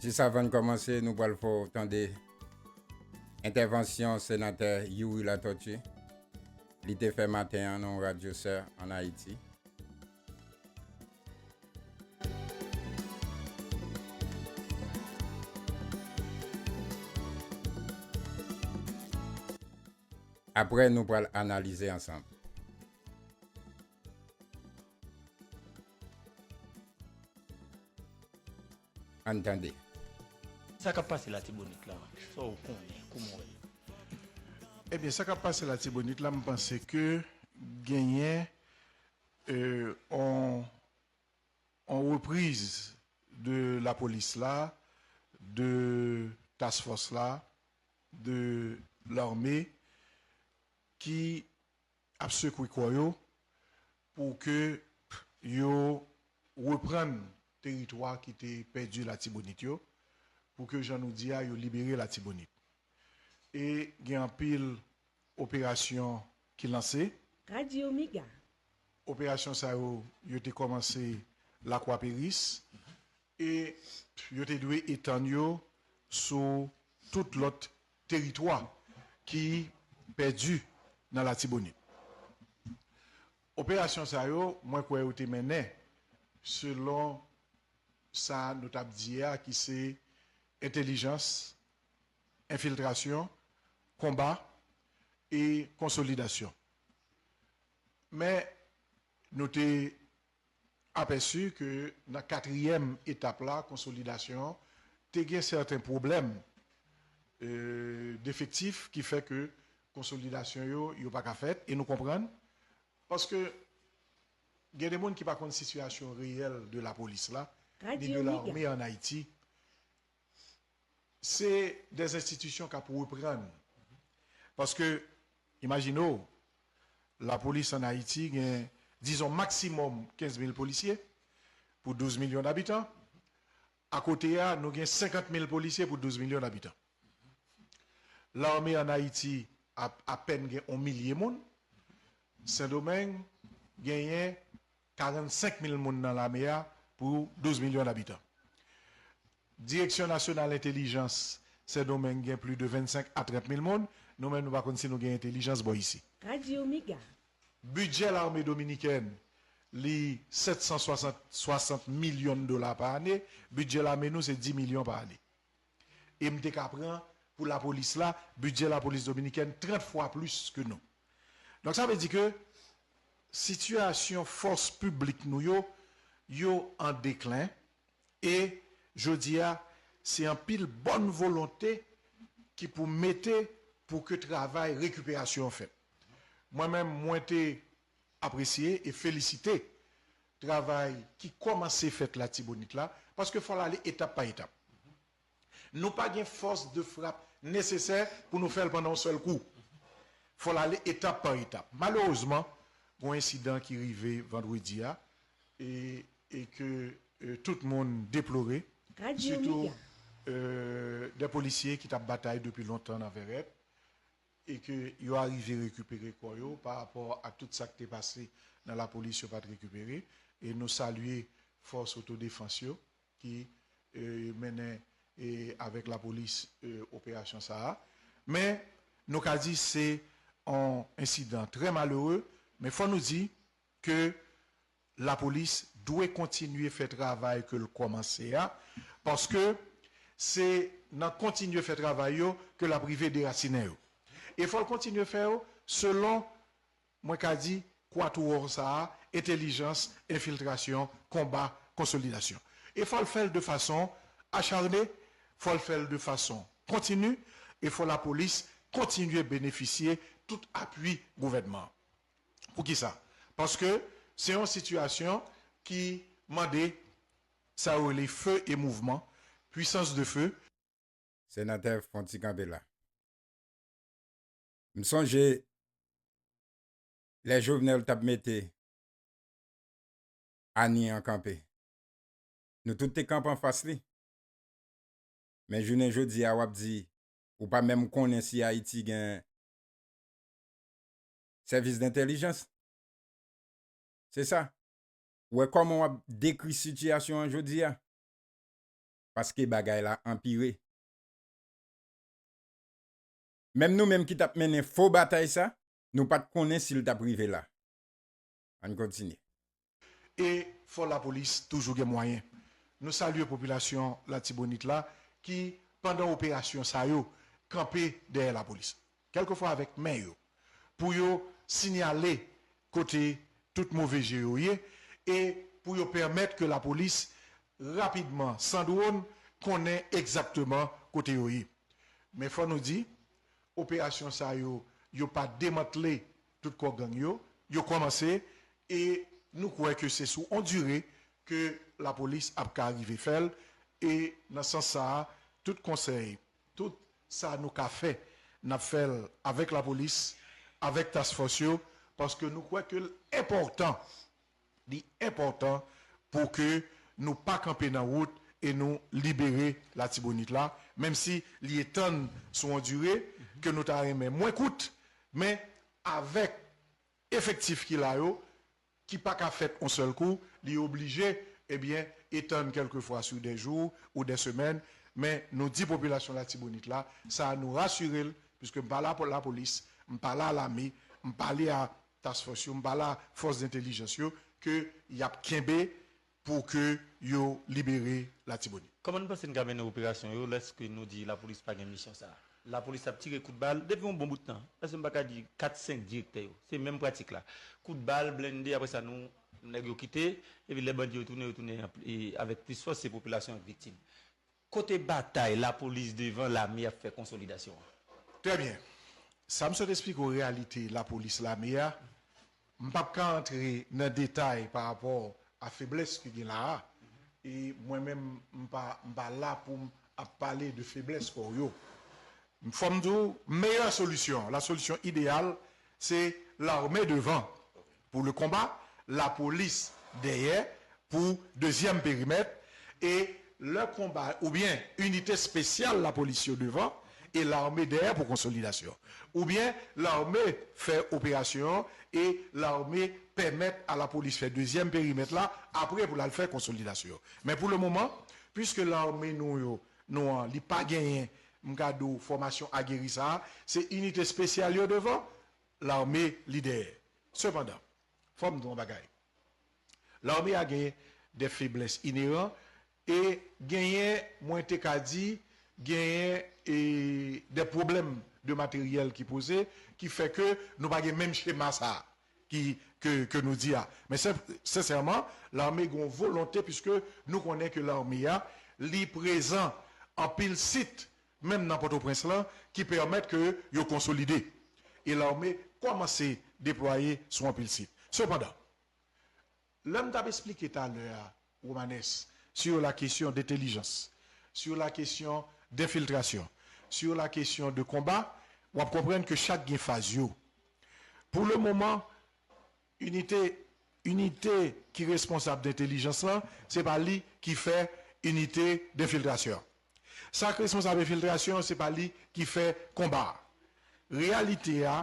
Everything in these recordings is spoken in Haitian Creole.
Jis avan n kòmanse, nou pral fè w tande entèvansyon Senatè Youri Latortue. Li te fè maten an nan yon radyo sè an Ayiti. Aprè nou pral analize ansanm. Ann tande. Sa kap pase latibonit la sa ou konnen kouman ou wèl. Ebyen sa kap pase latibonit la m panse ke genyen on repriz de lapolis la de task fòs la de larme ki Ap sekwe kò yo pou ke yo reprann teritwa ki te pèdi Latibonit yo, pou ke jan nou di a yo libere Latibonit. E gen anpil operasyon ki lanse. Radio Mega. Operasyon sa yo, yo te kòmanse Lakwa Peris, E yo te dwe etann yo sou tout lòt teritwa ki pèdi nan Latibonit. Operasyon sa yo, mwen kwè yo te mennen selon sa nou tap di a ki se entelijans, enfiltrasyon, konba e konsolidasyon. Men nou te apèsi ke nan katriyèm etap la, konsolidasyon, te gen sèten pwoblèm defektif ki fè ke konsolidasyon yo, yo pa ka fèt, e nou konprann, paske gen de moun ki pa konn sitiyasyon reyèl de lapolis la, ni de lame an Ayiti. Se des institutions kap reprann paske imajine w la police an Ayiti gen dizon maksimòm 15 mil polisye pou 12 milyon dabitan akote a nou gen 50 mil polisye pou 12 milyon dabitan larme an Ayiti ap apèn gen on milye moun Sendomeng genyen 45 mil moun nan lame a pou 12 milyon dabitan. Direksyon nasyonal entelijans Sendomeng gen pli de 25 a 30 mil moun. Nou menm nou pa konn si nou gen entelijans bò isi. Radio Mega. Bidjè lame dominikèn li 760 milyon dola pa ane. Bidjè lame nou se 10 milyon pa ane. E m te ka pran pou lapolis la, bidjè lapolis dominikèn 30 fwa plis ke nou. Donk sa vle di ke sitiyasyon fòs piblik nou yo, yo an deklen e jodi a se anpil bòn volonte ki pou mete pou ke travay rekiperasyon an fèt. Mwen menm mwen te apresye e felisite travay ki kòmanse fèt Latibonit la, paske fò l ale etap pa etap. Nou pa gen fòs de frap nesesè pou nou fè l pandan yon sèl kou. Fò l ale etap pa etap. Malerezman, gen yon ensidan ki rive vandredi a e ke tout moun deplore, sitou 2 polisye ki t ap batay depi lontan nan Vèrèt, e ke yo arive rekipere kò yo pa rapò ak tout sa k te pase nan lapolis yo pa t rekipere e nou salye fòs otodefans yo ki mennen avèk lapolis operasyon sa a men nou ka di se yon ensidan trè malere men fò nou di ke Lapolis dwe kontinye fè travay ke l kòmanse a, paske se nan kontinye fè travay yo ke l ap rive derasinen yo. E fò l kontinye fè yo selon, mwen ka di, kwatouwòm sa a, entelijans, enfiltrasyon, konba, konsolidasyon. E fò l fè l de fason acharne, fò l fè l de fason kontini, e fò lapolis kontinye benefisye tout apui gouvènman an. Poukisa? Paske se yon sitiyasyon ki mande sa yo rele feu et mouvement, puissance de feu. Senatè fon ti kanpe la. M sonje lè Jovenel t ap mete Anie an kanpe. Nou tout te kanpe anfas li. Men jounen jodi a w ap di ou pa menm konnen si Ayiti gen Sèvis dentèlijans. Se sa. Ou wè kòman w ap dekri sitiyasyon an jodi a? Paske bagay la anpire. Menm nou menm ki t ap mennen fo batay sa, nou pa t konnen si l t ap rive la. Ann kontinye. E fò lapolis toujou gen mwayen. Nou salye popilasyon Latibonit la ki pandan operasyon sa yo kanpe dèyè lapolis. Kèlke fwa avèk men yo. Pou yo sinyale kote tout move je yo ye e pou yo pèmèt ke lapolis rapidman san dwon konnen egzakteman kote yo ye. Men fò nou di operasyon sa yo yo pa demantle. tout kò gang yo, yo kòmanse e nou kwè ke se sou on dire ke lapolis ap ka rive fè l e nan sans sa a tout konsèy, tout sa nou ka fè n ap fè l avèk lapolis, avèk task fòs yo paske nou kwè ke l enpòtan Li enpòtan pou ke nou pa kanpe nan wout e nou libere Latibonit la, menm si li etann sou yon dire ke nou ta renmen mwen kout, men avèk efektif ki la yo, ki pa ka fèt yon sèl kou, li oblije ebyen etann kèlke fwa sou dè jou ou dè semèn, men nou di popilasyon Latibonit la sa, nou rasire l, piske m pa la pou lapolis, m pa la lame, m pale a Task Force yo, m pa la Fòs Dentelijans yo ke y ap kenbe pou ke yo libere Latibonit. Kòman nou panse n ka mennen operasyon yo lèske nou di Lapolis pa gen misyon sa a? Lapolis ap tire kout bal depi yon bon bout tan. Èske m pa ka di kat senk direktè yo se menm pratik la? Kout bal, blende apre sa nou nèg yo kite epi lè bandi yo tounen yo tounen avèk plis fòs se popilasyon an k viktim. Kote batay lapolis devan lame ap fè konsolidasyon an? Trè byen. Sa m sot esplike w reyalite lapolis lame a, m p ap ka antre nan detay pa rapò a feblès ki gen la a, e mwen menm m pa m pa la pou m ap pale de feblès kò yo. Fò m di w meyè solisyon, la solution idéale, se lame devan pou le konba, lapolis dèyè pou dezyèm perimèt e lè konba oubyen inite spesyal lapolis yo devan e lame dèyè pou konsolidasyon oubyen lame fè operasyon e lame pèmèt a lapolis fè dezyèm perimèt la apre pou lal fè konsolidasyon men pou le moman pwiske lame nou yo nou an li pa genyen m ka di w fòmasyon ageri sa se inite spesyal yo devan Lame li dèyè. Sepandan, fò m di w yon bagay, lame a gen de feblès ineran e genyen, mwen te ka di, genyen e de pwoblèm de materyèl ki poze ki fè ke nou pa gen menm chema sa a ki ke ke nou di a. Men sen sensèman, lame gen yon volonte piske nou konnen ke lame a li prezan anpil sit menm nan Pòtoprens lan ki pèmèt ke yo konsolide e lame kòmanse deplwaye sou anpil sit. Sepandan, lè m t ap esplike talè a, Romanes, sur la question d'intelligence, sur la question d'infiltration, sur la question de combat, w ap konprann ke chak gen faz yo. Pou le moman. Inite Inite ki responsab dentelijans lan, se pa li ki fè inite denfiltrasyon an. Sa k responsab enfiltrasyon an, se pa li ki fè konba a. Reyalite a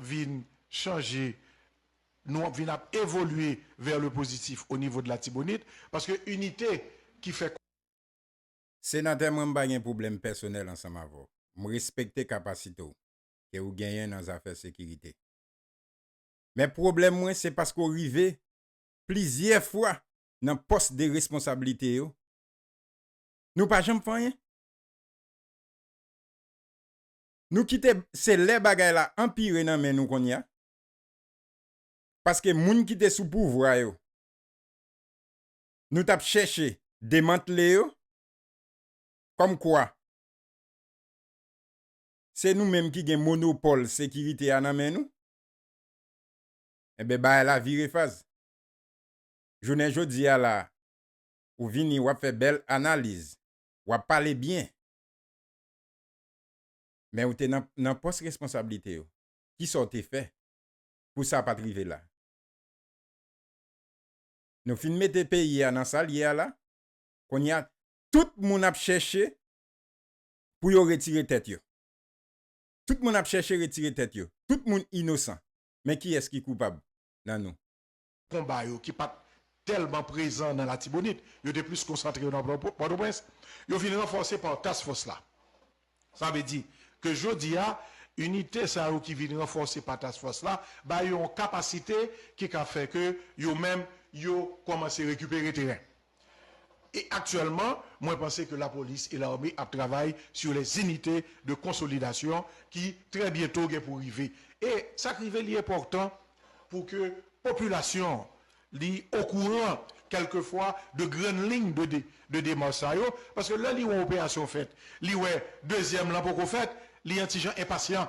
vin chanje, nou ap vin ap evolye vè le pozitif o nivo de Latibonit, paske inite ki fè. Senatè mwen m pa gen pwoblèm pèsonèl ansanm avè w. M respekte kapasite w ke ou genyen nan zafè sekirite. men pwoblèm mwen se paske w rive plizyè fwa nan pòs de responsablite yo, nou pa janm fè anyen? Nou kite se lè bagay la anpire nan men nou konnya, paske moun ki te sou pouvwa yo, nou t ap chèche demantle yo, kòm kwa se nou menm ki gen monopòl sekirite a nan men nou. Enben bagay la vire faz. Jounen jodi a la ou vini wap fè bèl analiz, wap pale byen. Men ou te nan pòs responsablite yo. Kisa ou te fè pou sa pat rive la? Nou fin mete peyi a nan sal ye a la, kounye a tout moun ap chèche pou yo retire tèt yo. Tout moun ap chèche retire tèt yo. Tout moun inosan. Men kiyès ki koupab nan nou? Konba yo ki pa t tèlman prezan nan Latibonit, yo te plis konsantre yo nan Pòtoprens, yo vin ranfòse pa Task Fòs la. Sa vle di ke jodi a, inite sa yo ki vin ranfòse pa Task Fòs la ba yo yon kapasite ki ka fè ke yo menm yo kòmanse rekipere teren. E aktyèlman, mwen panse ke lapolis e lame ap travay sur les unités de consolidation ki trè byento gen pou rive. E sa k rive li enpòtan pou ke popilasyon an li okouran kèlke fwa de grann liy de demach sa yo, paske lè li wè yon operasyon fèt, li wè dezyèm lan poko fèt, li yon ti jan enpasyan.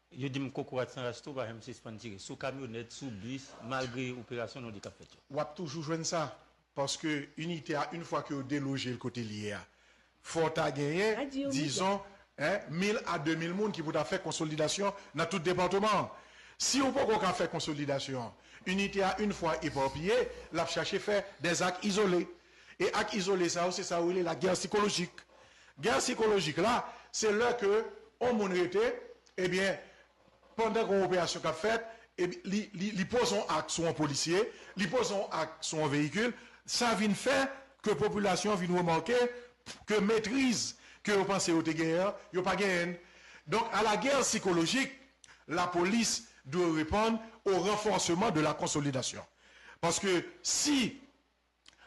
Yo di m kokorat san ras tou pa janm sispann tire sou kamyonèt, sou bis, malgre operasyon nou di k ap fèt yo. W ap toujou jwenn sa, paske inite a yn fwa ke yo deloje l kote l ye a, fò w ta genyen dizon 1000 a 2000 moun ki pou ta fè konsolidasyon nan tout depatman an. Si w poko ka fè konsolidasyon an, inite a yn fwa eparpiye, l ap chache fè dè zak izole. E ak izole sa yo, se sa yo rele lagè sikolojik. Gè sikolojik la, se lè ke on moun rete, ebyen, pandan gon operasyon kap fèt, li, li, li poze on ak sou on polisye, li poze on ak sou on veyikil, sa vin fè ke popilasyon vin remake ke metriz ke yo panse yo te genyen an, yo pa genyen n. Donk, a la guerre psychologique, la polis dwe reponn au renforcement de la consolidation. Paske si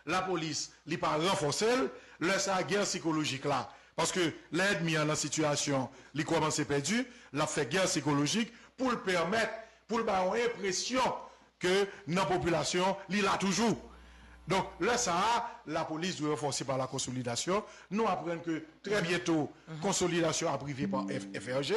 lapolis li pa ranfòse l, lè sa a gè sikolojik la, paske lè èdmi an nan sitiyasyon li kòmanse pèdi, l ap fè gè sikolojik pou l pèmèt, pou l bay yon enpresyon ke nan popilasyon li la toujou. Donk, lè sa a, lapolis dwe ranfòse pa lakonsolidasyon. Nou aprann ke trè byento konsolidasyon ap rive pa FFRG,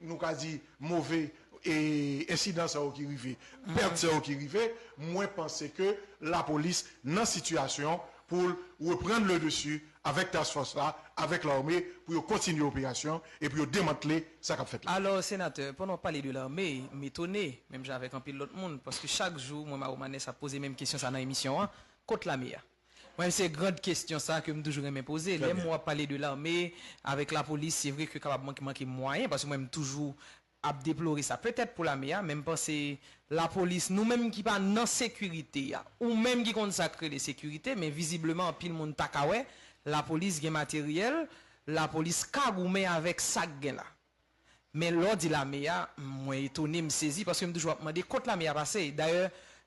nou ka di move ensidan sa yo ki rive, pèt sa yo ki rive, mwen panse ke lapolis nan sitiyasyon pou l reprann le desi avèk task force la, avèk lame pou yo kontinye operasyon e pou yo demantle sa k ap fèt la. Alò, senatè, pandan w ap pale de lame, m etone, menm jan avèk anpil lòt moun, paske chak jou mwen Maromanes ap poze menm kesyon sa nan emisyon an, kot lame a? Mwen se grand kestyon sa ke m toujou renmen poze. Lè m wè w ap pale de lame avèk lapolis se vre ke kapab manke manke mwayen paske mwen m toujou ap deplore sa petèt pou lame a men m panse lapolis nou menm ki pa nan sekirite a ou menm ki konn sa k rele sekirite men vizibleman anpil moun ta ka wè lapolis gen materyèl lapolis ka goumen avèk sa k gen la. Men lè w di lame a, mwen etone, m sezi, paske m toujou ap mande kot lame a pase. Dayè,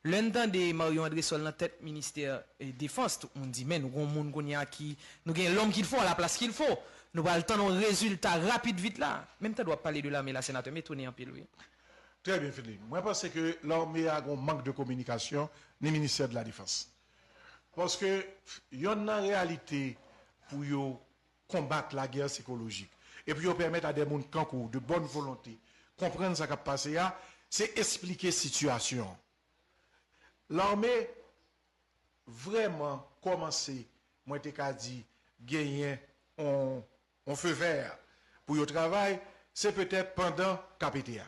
lè n tande Marion Andrésol nan tèt ministè defans, tout moun di men nou gon moun kounye a ki, nou gen lòm kilfo a la plas kilfo. Nou pral tann yon rezilta rapid vit la. Men m tande w ap pale de lame la senatè, m etone anpil wi. Trè byen Philippe. Mwen panse ke lame a gon mank de kominikasyon ni ministè de la defans. Paske yonn nan reyalite pou yo konbat lagè sikolojik. E pou yo pèmèt a dè moun tankou w, de bòn volonte, konprann sa k ap pase a, se esplike sitiyasyon an. Lame vrèman kòmanse, mwen te ka di, genyen yon feu vert pou yo travay, se petèt pandan KPT a.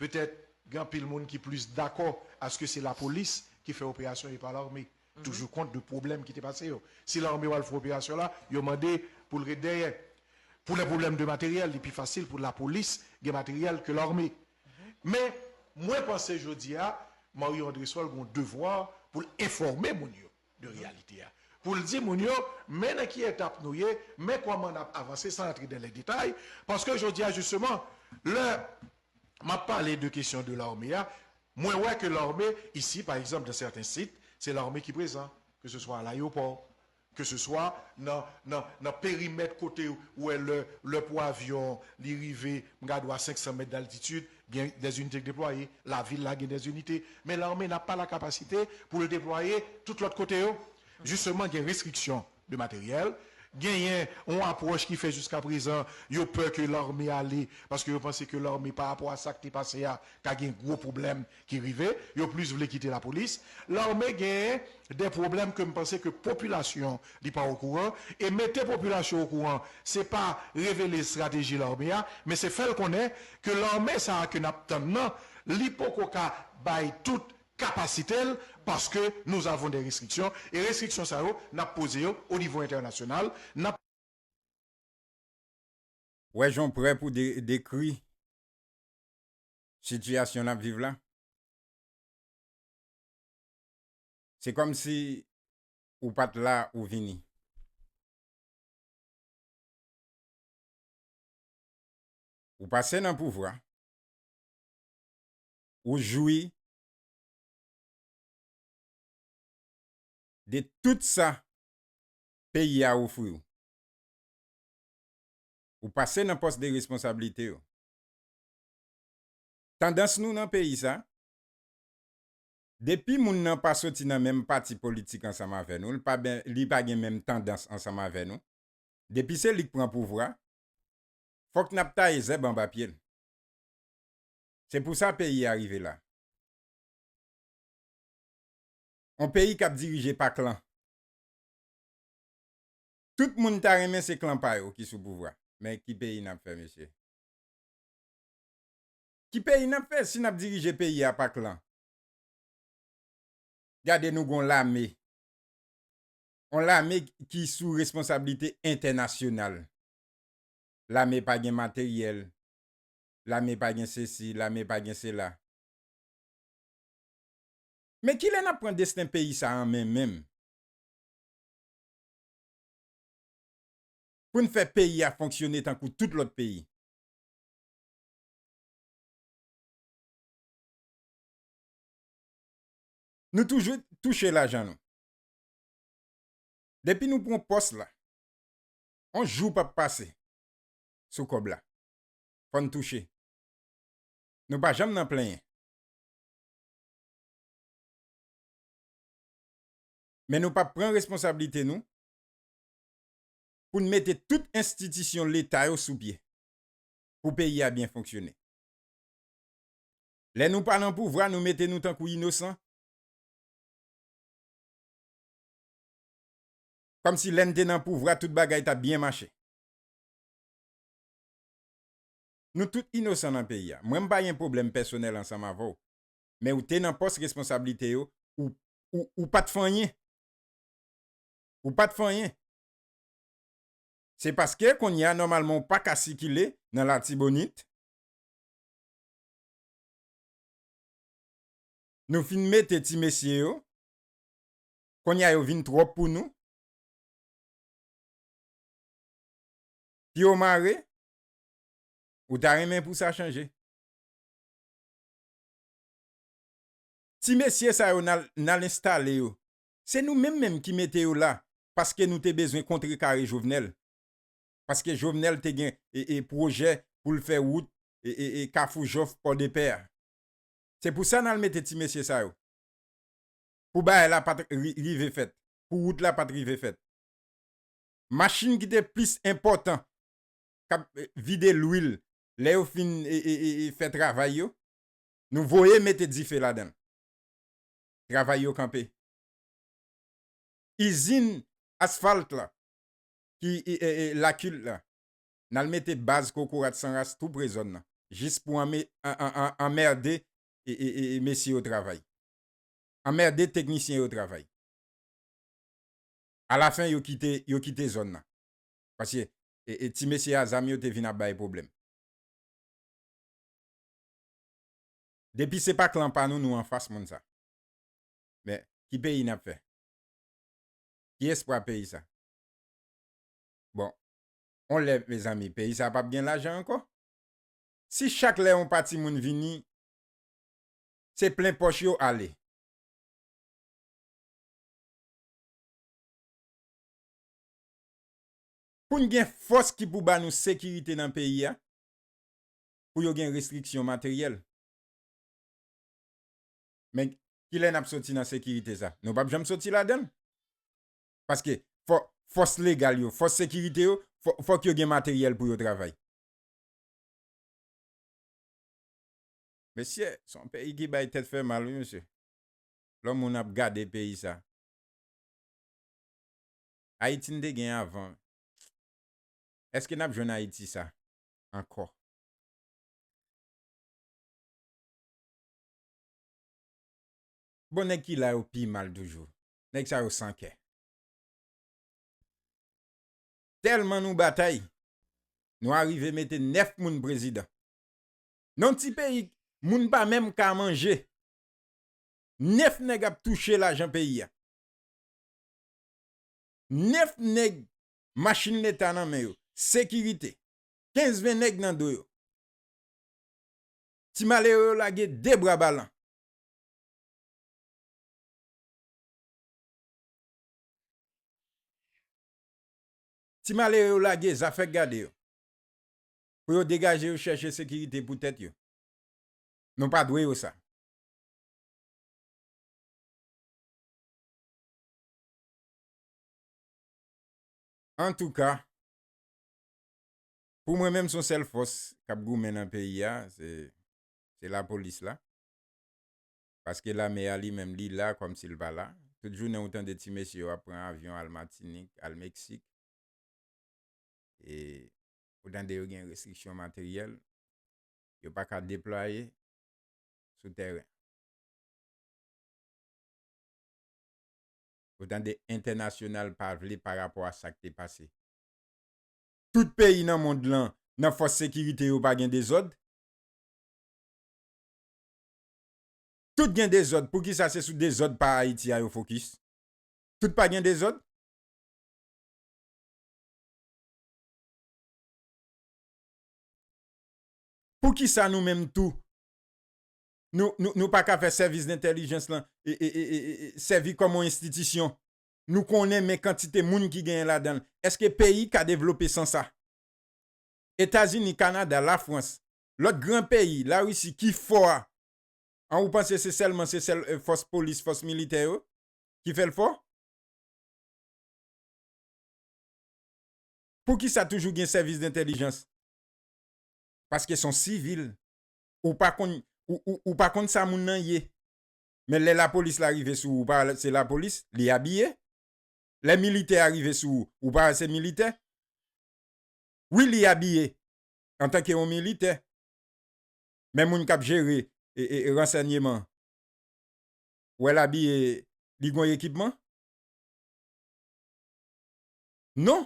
Petèt gen anpil moun ki plis dakò aske se lapolis ki fè operasyon e pa lame, toujou kont de pwoblèm ki te pase yo. Si lame yo al fè operasyon la, yo mande pou l ret dèyè. Pou lè pwoblèm de materyèl, li pi fasil pou lapolis gen materyèl ke lame. Men, mwen panse jodi a, Mario Andresol gen yon devwa pou l enfòme moun yo. de reyalite a pou l di moun yo men nan ki etap nou ye, men kòman n ap avanse san antre dan lè detay paske jodi a jisteman lè m ap pale de kesyon de lame a mwen wè ke lame isi pa egzanp dan sèten sit se lame ki prezan ke se swa alayopò ke se swa nan nan nan perimèt kote ou wè lè lè pou avyon li rive m gad ou a 500 mèt daltitid Gen des unités k deplwaye, lavil la gen des unités, men lame na pa lakapasite pou l deplwaye tout lòt kote yo. Jisteman gen restriksyon de materyèl, genyen yon apwòch ki fè jiska prezan yo pè ke lame ale paske yo panse ke lame pa rapò a sa k te pase a ka gen gwo pwoblèm ki rive, yo plis vle kite lapolis. Lame gen des pwoblèm ke m panse ke popilasyon Li pa okouran e mete popilasyon okouran se pa revele estrateji lame a men se fè l konnen ke lame sa a ke n ap tann nan li poko ka bay tout kapasite l paske nous avons des restrictions e restriksyon sa yo n ap poze yo o nivo entènasyonal n ap wè jan w prè pou dekri sitiyasyon n ap viv la se kòm si ou pat la ou vini. Ou pase nan pouvwa, ou jwi de tout sa peyi a ofri w. Ou pase nan pòs de responsablite yo. Tandans nou nan peyi sa, Depi moun nan pa soti nan menm pati politik ansanm avè nou, li pa gen menm tandans ansanm avè nou, depi se li k pran pouvwa, fòk n ap taye zèb anba pye l. Se pou sa peyi a rive la. On peyi k ap dirije pa klan. Tout moun ta renmen se klan pa yo ki sou pouvwa. Men ki peyi n ap fè mesye? Ki peyi nap fè si nap dirije peyi a pa klan? Gade nou gon lame, on lame ki sou responsabilite entènasyonal. Lame pa gen materyèl, lame pa gen sesi, lame pa gen sela. Men kilè nap pran desten peyi sa an men menm? Poun fè peyi a fonksyone tankou tout lòt peyi. Nou toujou touche lajan nou. Depi nou pran pòs la, yon jou pap pase sou kòb la. Fò n touche. Nou pa janm nan plenyen. Men nou pap pran responsablite nou pou n mete tout enstitisyon leta yo sou pye. pou peyi a byen fonksyone. Lè nou pa nan pouvwa nou mete nou tankou inosan. Kòm si lè n te nan pouvwa tout bagay tap byen mache. Nou tout inosan nan peyi a. Mwen m pa gen pwoblèm pèsonèl ansanm avè w. Men ou te nan pòs responsablite yo, ou pat fè anyen. Ou pat fè anyen. Se paske kounye a nòmalman ou pa ka sikile nan Latibonit? Nou fin mete ti mesye yo, kounye a yo vin twòp pou nou? Pye w mare? Ou ta renmen pou sa chanje? Ti mesye sa yo n al enstale yo se nou menm menm ki mete yo la paske nou te bezwen kontre kare jovenel paske jovenel te gen pwojè poul fè wout kafou jòf pòdepè a se pou sa nal mete ti mesye sa yo pou bagay la pat rive fèt pou wout la pat rive fèt machin ki te plis enpòtan kap vide lwil lè yo fin fè travay yo nou voye mete dife ladanl. travay yo kanpe. Izin asfalt la ki lakil la nal mete baz kokorat san ras tou pre zòn nan jis pou anmerde mesye yo travay. Anmerde teknisyen yo travay. A la fen yo kite yo kite zòn nan. Paske ti mesye a zam yo te vin ap bay pwoblèm. Depi se pa klan pa nou nou anfas moun sa. Men ki peyi nap fè? Ki espwa peyi sa? Bon on lè mezanmi peyi sa pap gen lajan ankò? Si chak lè on pati moun vini se plen pòch yo ale. Poun gen fòs ki pou ba nou sekirite nan peyi a? pou yo gen restriksyon materyèl. Men, kilè n ap soti nan sekirite sa? Nou pap janm soti ladan l. Paske, fòk fòs legal yo, fòs sekirite yo, fòk yo gen materyèl pou yo travay. Mesye, se yon peyi ki bay tèt fè mal wi mesye. Lò moun ap gade peyi sa. Ayiti n te gen avan, èske n ap jwenn Ayiti sa? ankò. Bon nèg ki la yo pi mal toujou. Nèg sa yo san kè. Tèlman nou batay, nou arive mete 9 moun prezidan. Nan ti peyi moun pa menm ka manje. 9 nèg ap touche lajan peyi a. 9 nèg Machin leta nan men yo. Sekirite. 15 20 nèg nan do yo. Ti malere yo lage 2 bra balan. Ti malere yo lage zafè gade yo. Pou yo degaje yo chèche sekirite pou tèt yo. Nou pa dwe yo sa. Antouka Pou mwen menm son sèl fòs kap goumen nan peyi a se se la polis la paske lame a li menm li la kòmsi l pa la tout jounen ou tande ti mesye yo ap pran avyon al matinik al meksik e ou tande yo gen restriksyon materyèl yo pa ka deplwaye sou tèren. Ou tande entènasyonal pa vle pa rapò a sak te pase. Tout peyi nan mond lan nan fòs sekirite yo pa gen dezòd? Tout gen dezòd poukisa se sou dezòd pa Ayiti a yo fokis? Tout pa gen dezòd? Poukisa nou menm tou Nou pa ka fè sèvis dentèlijans lan sèvi kòm yon enstitisyon. Nou konnen men kantite moun ki genyen ladan l. Eske peyi ka devlope san sa? Etazini, Kanada, Lafrans, lòt gran peyi, Larisi ki fò a, an ou panse se sèlman se sèl fòs polis, fòs militè yo ki fè l fò? Poukisa toujou gen sèvis dentèlijans? Paske son sivil ou pa konn ou pa konn sa moun nan ye men lè lapolis la rive sou ou ou pa wè se lapolis li abiye lè militè a rive sou ou ou pa wè se militè wi li abiye antanke yon militè men moun kap jere ransènyeman ou wè l abiye li gon ekipman non.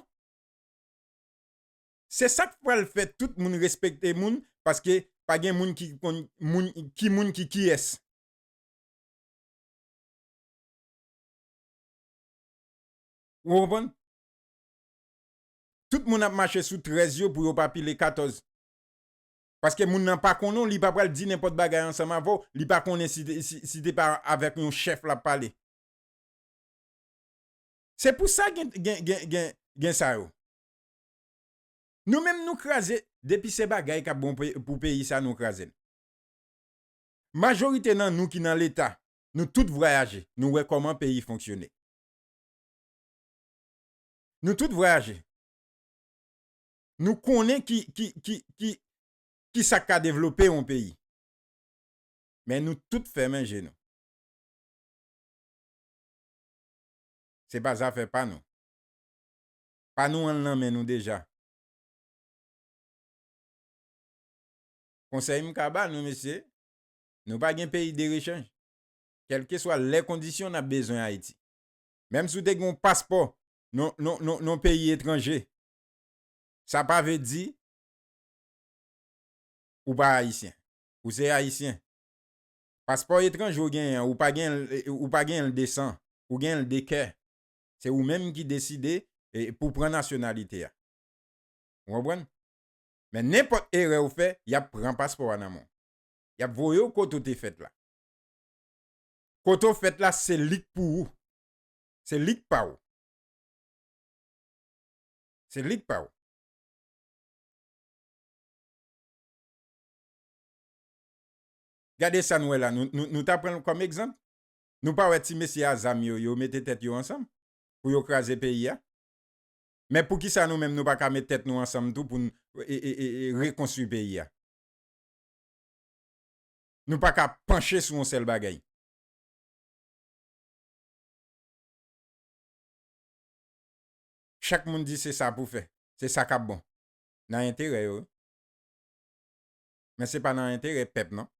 Se sak pral fè tout moun respekte moun paske pa gen moun ki konn ki moun ki kiyès. Ou konprann? Tout moun ap mache sou 13 yo pou yo pa pile 14. Paske moun nan pa konnen w, li pa pral di nenpòt bagay ansanm avè w, li pa konnen si te pa avèk yon chèf l ap pale. Se pou sa gen sa yo. Nou menm nou kraze depi se bagay kap bon pou peyi sa nou krazel. Majorite nan nou ki nan leta nou tout vrayaje nou wè koman peyi fonksyone. Nou tout vrayaje nou konnen ki sak ka devlope yon peyi. Men nou tout fèmen je nou. Se pa zafè pa nou. Pa nou an nan men nou deja. Konsèy m ka ba nou mesye, nou pa gen peyi de rechanj. Kèlkeswa lè kondisyon n ap bezwen Ayiti. Menm si w te gen yon paspò yon peyi etranje, sa pa vle di ou pa Ayisyen. Ou se Ayisyen. Paspò etranje ou genyen an, ou pa genyen l de san. Ou genyen l de kè. Se ou menm ki deside pou pran nasyonalite a. Ou konprann? Men nenpòt erè ou fè, y ap pran paspò a nan men w. Y ap voye w kote w te fèt la. Kote w fèt la, se li k pou ou. Se li k pa ou. Se li k pa ou. Gade sa n wè la, nou ta pran l kòm egzanp? Nou pa wè ti mesye a zam yo yo mete tèt yo ansanm pou yo kraze peyi a men poukisa nou menm nou pa ka met tèt nou ansanm tou poun rekonstwi peyi a nou pa ka panche sou yon sèl bagay. Chak moun di se sa pou fè se sa kap bon nan enterè yo wi men se pa nan enterè pèp non.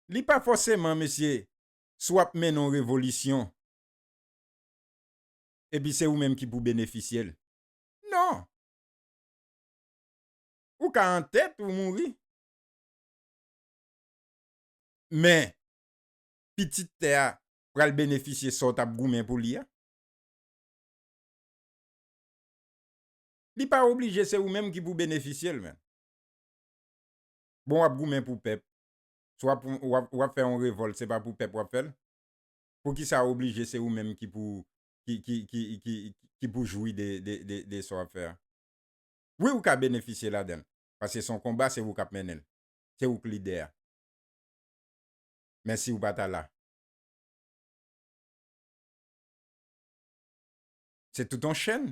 Li pa fòseman mesye si w ap mennen yon revolisyon epi se ou menm ki pou benefisye l. Non! Ou ka an tèt ou mouri men pitit tè a pral benefisye sa w t ap goumen pou li a. Li pa oblije se ou menm ki pou benefisye l menm. Bon wap goumen pou pèp, si wap fè yon revòlt se pa pou pèp wap fè l? Poukisa oblije se ou menm ki pou ki pou jwi de sa wap fè a? Wi ou ka benefisye ladan l, paske se yon konba se ou kap mennen l, se ou k lidè a. Men si ou pa ta la? Se tout yon chèn.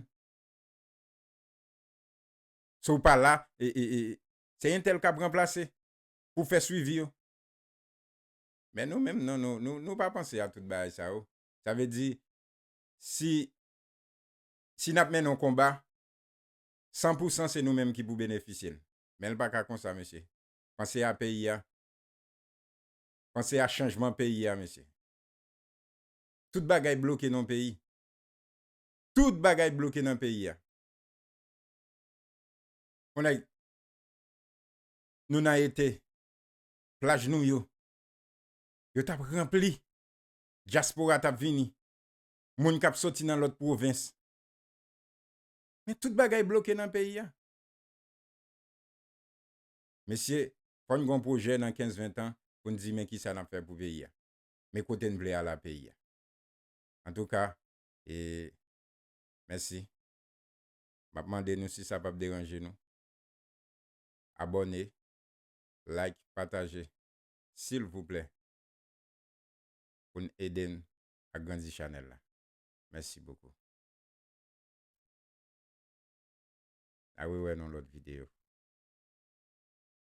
Si w pa la, se entèl k ap ranplase pou fè swivi yo. Men nou menm non, nou pa panse a tout bagay sa yo. Sa vle di, si n ap mennen yon konba, san pou san se nou menm ki pou benefisye l. Men l pa ka konsa mesye. Panse a peyi a. Panse a chanjman peyi a mesye. Tout bagay bloke nan yon peyi. Tout bagay bloke nan peyi a. Bon nèg, nou nan ete, plaj nou yo, yo tap ranpli, dyaspora tap vini, moun kap soti nan lòt pwovens. Men tout bagay bloke nan peyi a. Mesye, fò n gon pwojè nan 15, 20 tan pou n di men kisa nap fè pou peyi a. Men kote n vle al a peyi a. Antouka, e mèsi map mande nou si sa pap deranje nou abòne like pataje silvouplè poun ede n agrandi chanèl la mèsi bokou na rewè nou lòt video.